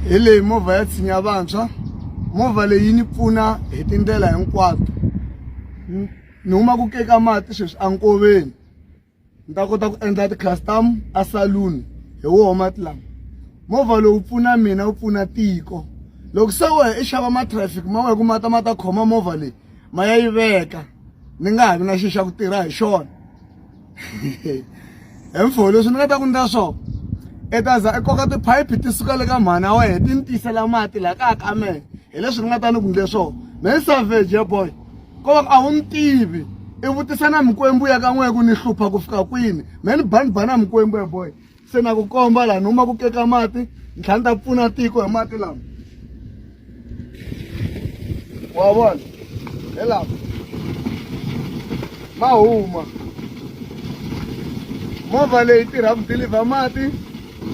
hi leyi movha ya tshinya vantshwa movha leyi yi ni pfuna hi tindlela hinkwato ni huma ku keka mati sweswi enkoveni ni ta kota ku endla ti-custom a saloon hi woho mati lama movha lowu pfuna mina wu pfuna tiko loko se wehe i xava matraffic ma wehe ku ma ta ma ta khoma movha leyi ma ya yi veka ni nga ha vi na xi xa ku tirha hi xona hemfo leswi ni nga ta ku ndla swona i ta za i koka tiphayiphi ti suka le ka mhana wa yena ti ni tisela mati laha kaya ka mehe hi leswi ni nga ta ni ku ndle swona me ni savage ya boy ko va a wu ni tivi i vutisa na mikwembu ya ka n'wehe ku ni hlupha ku fika kwini me ni banibana mikwembu ya boy se na ku komba laha ni huma ku keka mati ni tlhela ni ta pfuna tiko hi mati lama wa vona hi lama ma huma movha leyi tirha ku dilivha mati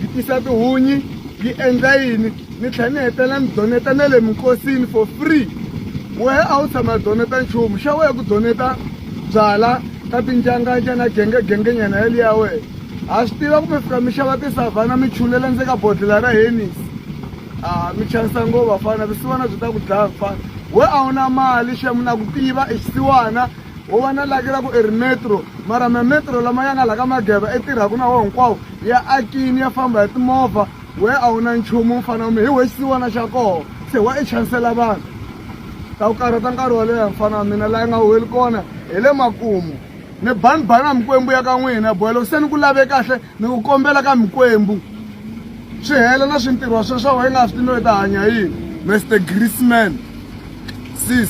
yi tisa tihunyi yi endla yini ni tlhela ni hetela ni doneta na le minkosini for free wehe a wu tshama doneta nchumu xa wehe ku doneta byala ka tinjanganja na gengegengenyana yaliya wena ha swi tiva kumbe fika mi xava tisavhana mi chulela ndzi ka bodlela ra henis a ah, mi chanisa ngo vafana visiwana byi ta ku dlaya mfana we a wu na mali xemu na ku tiva i xisiwana wo va na laki ra ku i ri metro mara mametro lama ya nga la ka mageba i tirhaku na wo hinkwawo ya akini ya famba hi timovha we a wu na nchumu mfana mi hi we xisiwana xa koho se wa i chanisela vanhu ta ku karhata nkarhi wo leha mfana wa mina laha nga huweli kona hi le makumu ni bani bani a mikwembu ya ka n'wina boy loko se ni ku lave kahle ni ku kombela ka mikwembu swi hela na swintirho sweswo wa yi nga swi tivi no yi ta hanya yini mr grisman sis